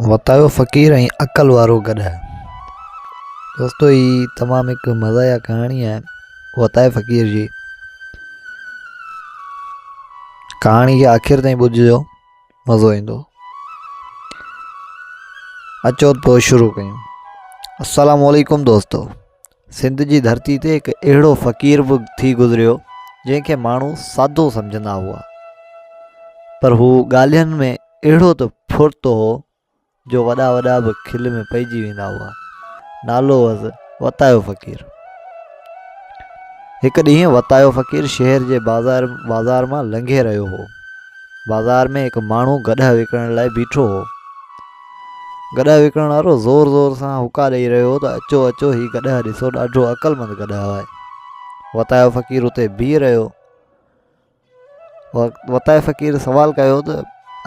وتايو فقير ۽ عقل وارو گڏهه دوستو هي تمام هڪ مزاحيه ڪهاڻي آهي وتايو فقير جي ڪهاڻي کي آخر تائين ٻڌجو مزو ايندو اچو پوء شروع ڪيون السلام علیکم دوستو سنڌ جي ڌرتي تي هڪ اهڙو فقير به ٿي گذريو جنهن کي ماڻهو سادو سمجهندا هئا پر هو ڳالهين ۾ اهڙو ته ڦڙتو هو جو وڏا وڏا به کل ۾ پئجي ويندا هئا نالو هوس وتايو فقير هڪ ڏينهن وتايو فقير شهر جي بازار بازار مان لنگهي رهيو هو بازار ۾ هڪ ماڻهو گڏها وڪڻڻ لاء بيٺو هو گڏهه وڪڻڻ وارو زور زور سان هڪا ڏئي رهيو هو ته اچو اچو هي گڏهه ڏسو ڏاڍو عقلمند گڏهه آهي وتايو فقير اتي بيهي رهيو وتايو فقير سوال ڪيو ته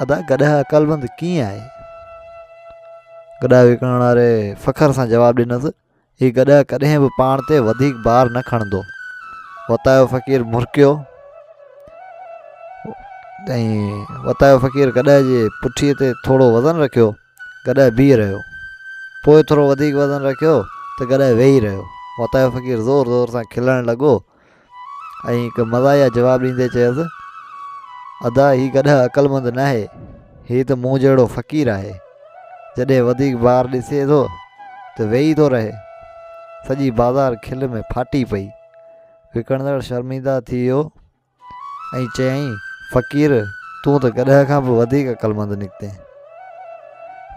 ادا گڏهه عقلمند ڪيئن آهي گڏهه وڪڻڻ واري فخر سان جواب ڏنس هي گڏهه ڪڏهن به پاڻ تي وڌيڪ بار نه کڻندو وتايو فقير مرڪيو وتايو فقير گڏهه جي پٺي تي ٿورو وزن رکيو گڏهه بيهي رهيو پوء ٿورو وڌيڪ وزن رکيو ته گڏهه ويهي رهيو وتايو فقير زور زور سان کلڻ لڳو ۽ هڪ مزاحيه جواب ڏيندي چيس، ادا هي گڏهه عقلمند ناهي، هي ته مون جهڙو فقير آهي، جڏهن وڌيڪ بار ڏسي ٿو ته ويهي ٿو رهي. سڄي بازار کل ۾ ڦاٽي پئي. وڪڻندڙ شرمنده ٿي ويو ۽ چيائين، فقير تون ته گڏهه کان به وڌيڪ عقلمند نڪتين.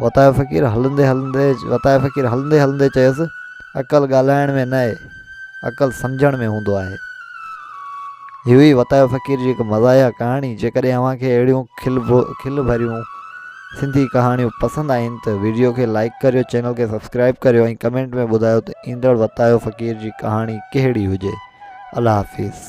وتايو فقير هلندي هلندي وتايو فقير هلندي هلندي چيس عقل ڳالهائڻ ۾ نه آهي عقل سمجهڻ ۾ هوندو آهي هي هئي وتايو فقير جي هڪ مزاحيه ڪهاڻي جيڪڏهن اوهان کي اهڙيون کل کل ڀريون سنڌي ڪهاڻيون پسند آئين ته ويڊيو کي لائڪ ڪريو چينل کي سبسڪرائب ڪريو ۽ ڪمينٽ ۾ ٻڌايو ته ايندڙ وتايو فقير جي ڪهاڻي ڪهڙي هجي الله حافظ